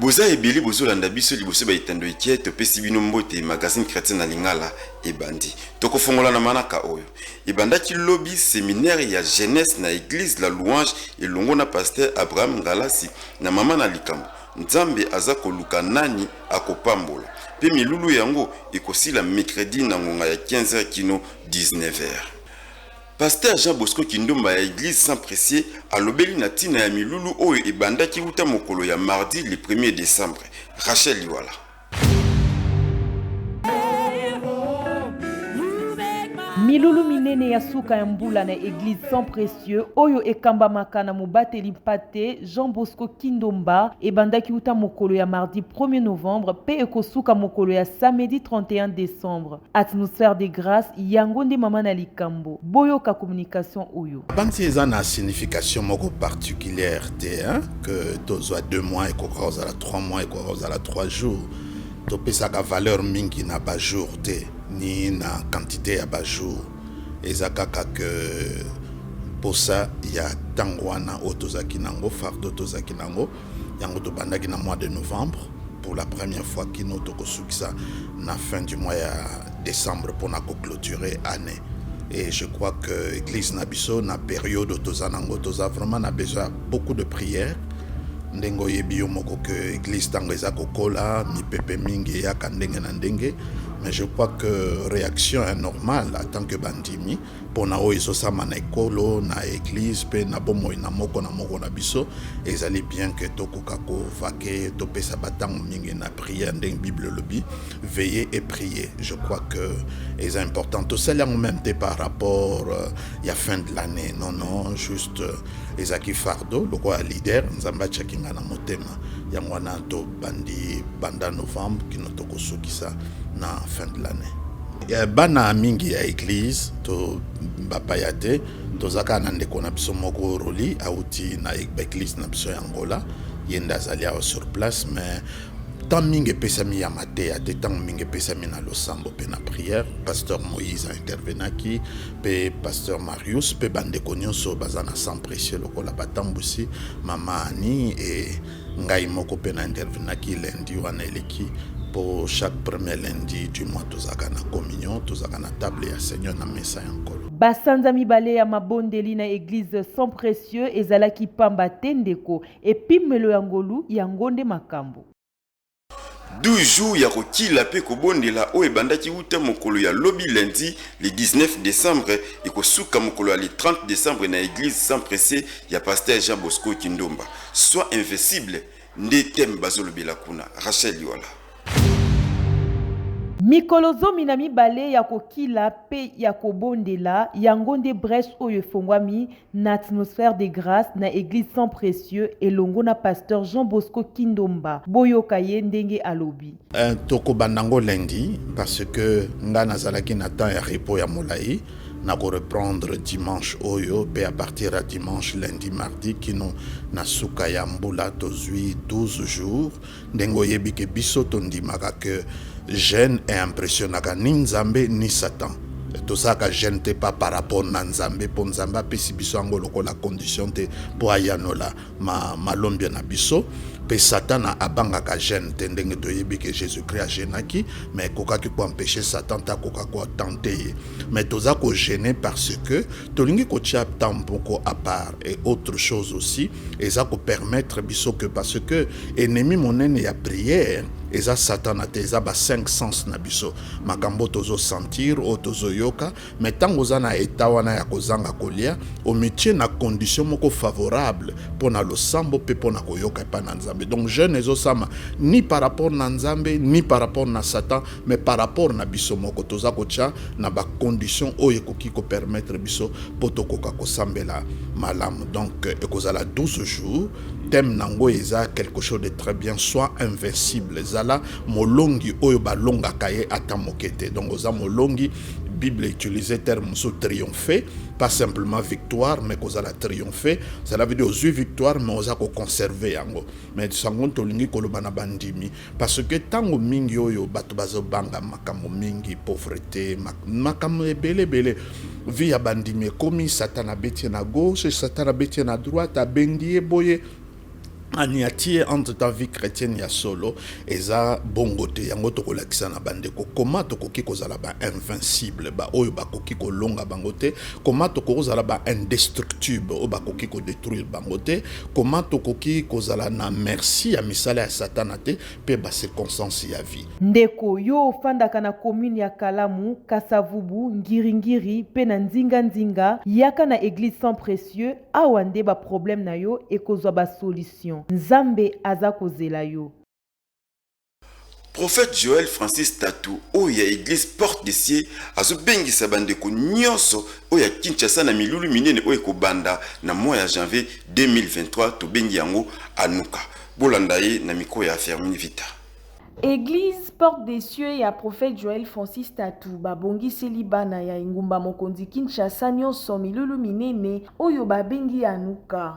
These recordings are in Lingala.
Boza ebele bozo landa biso liboso ba etando ekie topesi bino mbote magazine chretien na lingala ebandi toko fongola na manaka oyo ebandaki lobi seminaire ya jeunesse na eglise la louange elongo na pasteur Abraham Ngalasi na mama na likambo nzambe aza koluka nani akopambola pe milulu yango ekosila mecredi na ngonga ya 15 heures kino 19 heures. Pastere Jean Bosco Kindumba ya Eglise Saint Precieux alobeli na tina ya milulu oyo ebandaki wuta mokolo ya mardi le premier decembre. Rachel Liwala. Milulu minene ya suka ya mbula na Eglise Saint Precieux oyo ekambamaka na mobateli mpate Jean Bosco Kindomba ebandaki wuta mokolo ya mardi 1er novembre mpe ekosuka mokolo ya samedi 31 decembre. Atmosphère de grace yango nde mama na likambo. Boyoka communication oyo. Nabanzi eza na signification moko particulière te hein? que tozwa 2 mois ekoka kozala 3 mois ekoka kozala 3 jours topesaka valeur mingi na ba jours te ni na quantité ya ba jours eza kaka que mposa ya ntango wana oyo tozalaki nango fardo tozalaki nango yango tobandaki na mois de novembre pour la première fois kino tokosukisa na fin du mois ya décembre mpona koclôturer année et je crois que église na biso na période toza nango toza vraiment na besoin beaucoup de prière ndenge oyebi yo moko ke église ntango eza kokola mipepe mingi eyaka ndenge na ndenge mais je crois que réaction est normale en tant que bandimi mpo na oyo ezosama na ekolo na eglise mpe na bomoi na moko na moko na biso ezali bien ke tokoka kovake topesa bantango mingi na priere ndenge bible elobi veille et prier je crois que eza important tosali yango meme te par rapport euh, ya fin de l'année non non juste euh, ezalaki fardo lokola leader nzambe atyaki ngai na motema yango wana tobandi banda novembre kino tokosukisa na fin de l'année Eh, bana mingi ya eglise to bapaya te toza kaka na ndeko na biso moko roli auti na e-, eglise na biso ya angola ye nde azali awa sur place mais temps mingi epesami ya mateya te ntango mingi epesami na losambo mpe na prière pasteur moïse aintervenaki mpe pasteur marius mpe bandeko nyonso baza na sang précieux lokola batambwisi mama ani e Ngai moko pe na intervenaki lundi wana eleki po chaque premier lundi du mois tozalaka na communion, tozalaka na table ya seigneur na mesa ya nkolo. Ba sanza mibale ya mabondeli na eglise Sang precieux ezalaki pamba te ndeko, epimelo ya ngolu yango nde makambo. 12 jours ya kokila mpe kobondela oyo ebandaki uta mokolo ya lobi lundi le 19 decembre ekosuka mokolo ya le 30 decembre na eglise Saint Presse ya pasteur Jean Bosco Kindomba. Sois invincible nde thème bazolobela kuna. Rachel Yola. Mikolo zomi na mibale ya kokila mpe ya kobondela, yango nde breche oyo efongwami na atmosphère de grâce na eglise sans précieux elongo na pasteur Jean Bosco Kindomba boyoka ye ndenge alobi euh, tokobanda ngo lundi parce que nga nazalaki na temps ya repos ya molai na ko reprendre dimanche oyo pe à partir ya dimanche lundi mardi kino na suka ya mbula tozwi 12 jours Ndenge oyebi ke biso tondimaka ke jeune e impressionnaka ni Nzambe ni Satan. Tozalaka jeune te pas par rapport na Nzambe po Nzambe apesi biso yango lokola condition te po ayanola ma malombi na biso. Pe Satana abangaka jeune te ndenge toyebi ke Jesus Christ a jeunaki mais ekokaki ko empecher Satan te akoka ko tenter ye. Mais toza ko geuner parce que tolingi kotia temps moko a part et autre chose aussi eza ko permettre biso ke parce que Enemi monene ya prière eza satana te eza ba 5 sens na biso makambo tozo sentir oyo tozo yoka mais tango oza na eta wana ya kozanga kolia omitie na condition moko favorable mpo na losambo mpe mpo na koyoka epai na nzambe donc jeune ezosama ni par rapport na nzambe ni par rapport na satan mais par rapport na biso moko toza kotya na bacondition oyo ekoki kopermettre biso mpo tokoka kosambela malamu donc ekozala 12 jours Thème nango eza quelque chose de très bien soit invincible zala molongi oyo balongaka ye ata moke te donc oza molongi bible utilise terme mosusu triomphe pas simplement victoire mais kozala triomphe cela veut dire ozwi victoire mais oza koconserve yango mais sango tolingi koloba na bandimi Parce que tango mingi oyo bato bazo banga makambo mingi, pauvrete, makambo ebele ebele. Vie ya bandimi ekomi satan abeti ye na gauche, satan abeti ye na droite, abendi ye boye aniati ye entre ta vie chrétienne ya solo eza bongo te yango tokolakisa na bandeko koma tokoki kozala ba invincible baoyo bakoki kolonga bango te koma tokoki kozala ba indestructible oyo bakoki kodétruire bango te Comment tokoki kozala na merci ya misala ya satana te pe ba circonstances ya vie? Ndeko, yo ofandaka na commune ya Kalamu, Kasavubu, Ngiri-Ngiri pe na nzinga-nzinga, yaka na eglise Sang Precieux, awa nde ba problèmes na yo ekozua ba solutions. Nzambe aza kozela yo. Prophète Joël Francis Tatu oyo ya eglise porte de cieux azo bengisa ba ndeko nionso oyo ya Kinshasa na milulu minene oyo eko banda na mois ya janvier 2023 tobengi yango Anuka. Bolanda ye na micro ya Fermin Vita. Eglise porte de cieux ya Prophète Joël Francis Tatu ba bongiseli bana ya engumba mokonzi Kinshasa nionso milulu minene oyo ba bengi Anuka.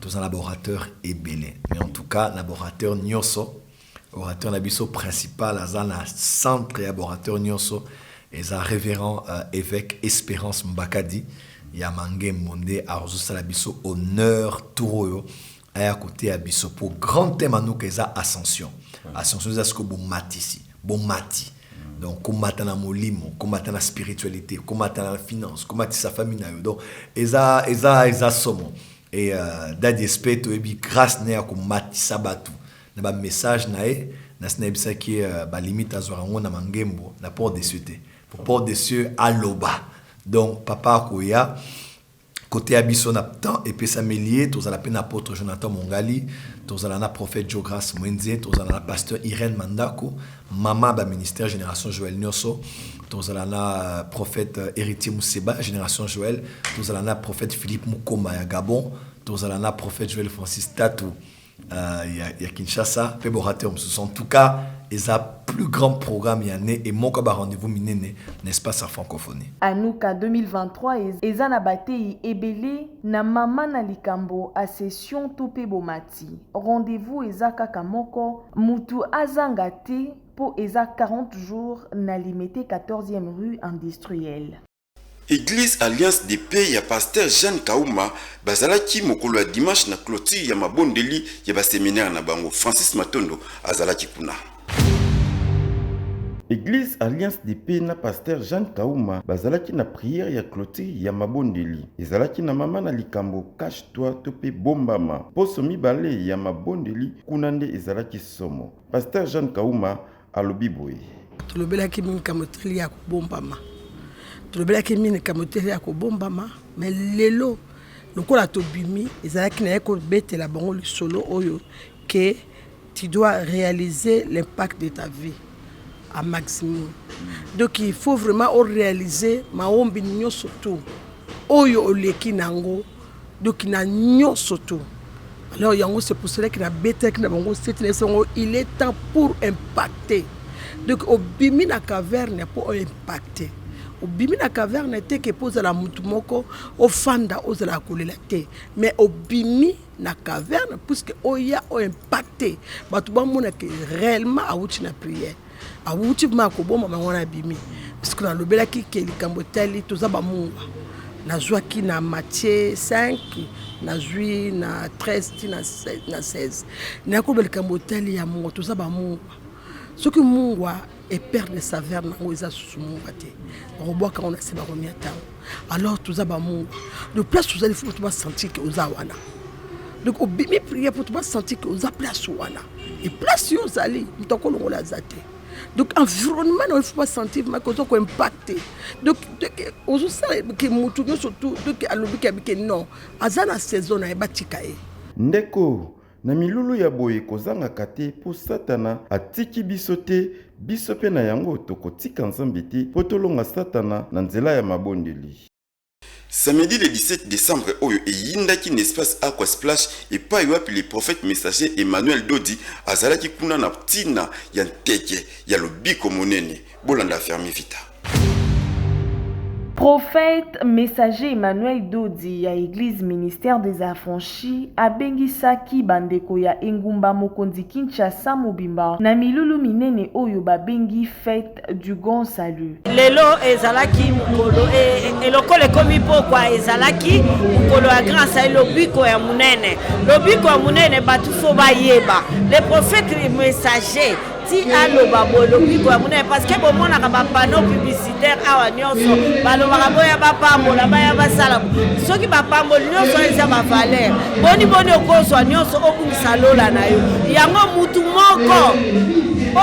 toza na ba orateur ebele mais en tout cas na ba orateur nyonso orateur na biso principal aza na centre ya ba orateur nyonso eza révérend euh, évêque espérance mbakadi ya mangembo nde azosala biso honneur tour oyo aya koteya biso mpo grand thème anuka eza ascension ascension eza sikoyo bomatisi Bomati. Donc komata na molimo, komata na spiritualite, komata na finance, komatisa famille na yo. Donc eza eza eza somo. Et euh, Daddy Esprit toyebi grâce na ya komatisa batu na ba message na ye nasi nayebisaki euh, ba limite azwaka yango na mangembo na port des cieux te. Pour port des cieux aloba. Donc papa akoya Koteya biso na temps epesameli ye, tozala mpe na Apotre Jonathan Mongali, tozala na Prophète Djo Grace Muenze, tozala na Pasteur Irène Mandaku, Maman ya ba Ministères Generation Joël nioso, tozala na Prophète Heritier Museba, Generation Joël, tozala na Prophète Philippe Mukoma ya Gabon, tozala na Prophète Joël Francis Tatu, euh, ya, ya kinshasa mpe borateur mosusu en tout cas eza plus grand programme ya ne e moko ba rendez-vous minene na espace ya francophonie anuka 2023 eza na bateyi ebele na mama na likambo asession to mpe bomati rendez-vous eza kaka moko mutu azanga te mpo eza 40 jours na limete 14e rue industrielle Eglise Alliance de Paix ya Pasteur Jeanne Kauma bazalaki mokolo ya dimanche na cloture ya mabondeli ya ba seminaires na bango. Francis Matondo azalaki kuna. Eglise Alliance de Paix na Pasteur Jeanne Kauma bazalaki na prière ya cloture ya mabondeli. Ezalaki na mama na likambo Cache toi to pe Bombama. Poso mibale ya mabondeli kuna nde ezalaki somo. Pasteur Jeanne Kauma alobi boye tolobelaki mingi likambo etali ya kobombama tolobelaki mingi likambo etali ya kobombama me lelo lokola tobimi ezalaki na ye kobetela bango lisolo oyo ke tu dois réaliser l'impact de ta vie à maximum donc il faut vraiment oréaliser maombi nyonso tout oyo oleki na yango Donc na nionso tout alors yango c'est pour cela que na betaki na bango seti na biso yango il est temps pour impacter donc obimi na caverne mpo o impacter obimi na caverne te ke mpo ozala motu moko ofanda ozalaka kolela te mais obimi na caverne puisque oya o impacte bato bamona ke réellement awuti na prière awuti vrema akoboma bango wana abimi parceke nalobelaki ke likambo etali toza bamungwa nazwaki na matie 5 nazwi na 13 ti na 16 nakoloba likambo etali ya mungwa toza bamungwa soki mungwa eperdre saveur nango eza susu mungwa te bakobwaka yango na se bakomi ya ntango alors toza bamongo de place tozali fo bato basentir ke oza wana donc obimi prière mpo to basentir ke oza place wana e place yo ozali moto akolongola aza te donc environnement na yo fo basentir make oza koimpacte donc ozosala ke motu nyonso tu donc alobi ke abike non aza na saison na ye batika ye ndeko Na milulu ya boye kozangaka te mpo Satana atiki biso te, biso mpe na yango tokotika Nzambe te mpo tolonga Satana na nzela ya mabondeli. Samedi le 17 decembre oyo eyindaki na espace Aqua Splash epayi wapi le prophète messager Emmanuel Dodi azalaki kuna na tina ya nteke ya lobiko monene. Bolanda fermi vita. Prophète messager Emmanuel Dodi ya Eglise Ministère des Affranchis abengisaki bandeko ya engumba mokonzi Kinshasa mobimba na milulu minene oyo babengi fete du grand salut. Lelo ezalaki mokolo e, e, elokolo ekomi pokwa ezalaki mokolo ya grand salut lobiko ya monene lobiko ya monene bato fo bayeba le prophète messager ti aloba boye lobiko ya monene parce que bomonaka bapano publicitaire awa nyonso balobaka boya bapambola baya basala soki bapamboli nyonso eza bavaleur boni boni okozwa nyonso obungisa lola na yo yango mutu moko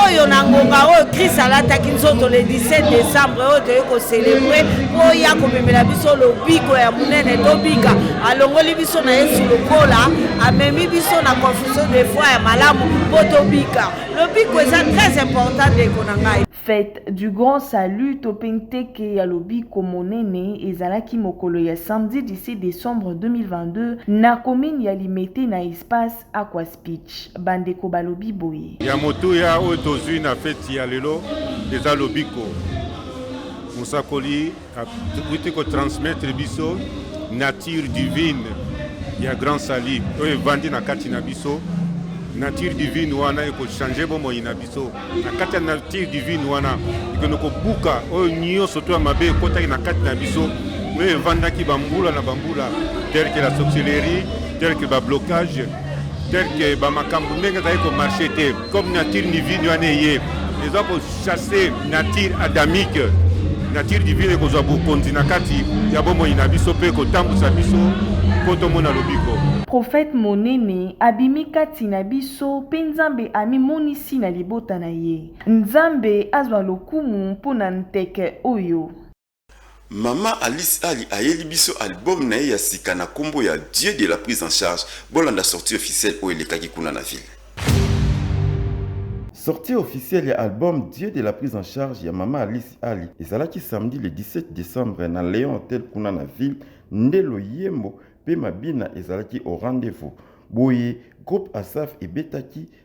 oyo na ngonga oyo kris alataki nzoto le 17 décembre oyo toyei koselebre mpo oya komemela biso lobiko ya monene tobika alongoli biso na yesu lokola amemi biso na biso de foi ya malamu mpo tobika lobiko eza très important ndeko na ngai fete du grand salut to mpe nteke ya lobiko monene ezalaki mokolo ya samedi 17 décembre 2022 na commune ya limete na espace aqua speech bandeko balobi boye ya motuya oyo tozwi na feti ya lelo eza lobiko mosakoli Akuti ko transmettre biso nature divine ya Grand Sali oyo evandi na kati na biso nature divine wana ekochange bomoi na biso na kati ya nature divine wana ekende kobuka oyo nyonso to ya mabe ekotaki na kati na biso oyo evandaki bambula na bambula tel que la sorcellerie tel que bablocage tel que bamakambo ndenge ezali komarche te comme nature divine wana eye eza chasse nature adamique nature divine ekozwa bokonzi na kati ya bomoi na biso mpe kotambwisa biso mpo tomona lobiko profete monene abimi kati na biso mpe nzambe amimonisi na libota na ye nzambe azwa lokumu mpo na nteke oyo Mama Alice Ali ayeli biso album na ye ya sika na kombo ya Dieu de la prise en charge, bolanda sortie officielle oyo elekaki kuna na ville. Sortie officielle ya album Dieu de la prise en charge ya Mama Alice Ali ezalaki samedi le 17 decembre na Leon Hotel kuna na ville, nde loyembo mpe mabina ezalaki au rendez-vous. Boye, groupe Asaph ebetaki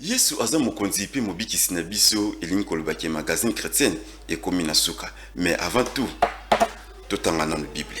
yesu aza mokonzi mpe mobikisi na biso elingi koloba ke magazine chrétienne ekomi na suka mais avant tout totanga nano bible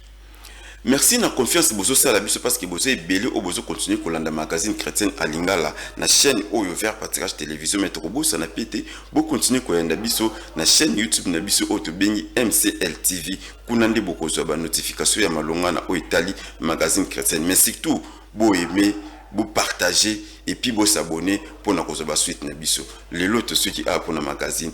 Merci na confiance bozo sala biso parce que boza ebele oyo bozo continuer kolanda magazine chretienne a lingala na chaine oyo vers patirage television mais toko bosana pe te bo continuer koyanda biso na chaine youtube na biso oyo tobengi MCL TV kuna nde bokozwa ba notification ya malonga na oyo etali magazine chretienne mais surtout bo aimer bo partager et puis bo s'abonner pona kozwa ba suite na biso lelo tosuki awa pona magazine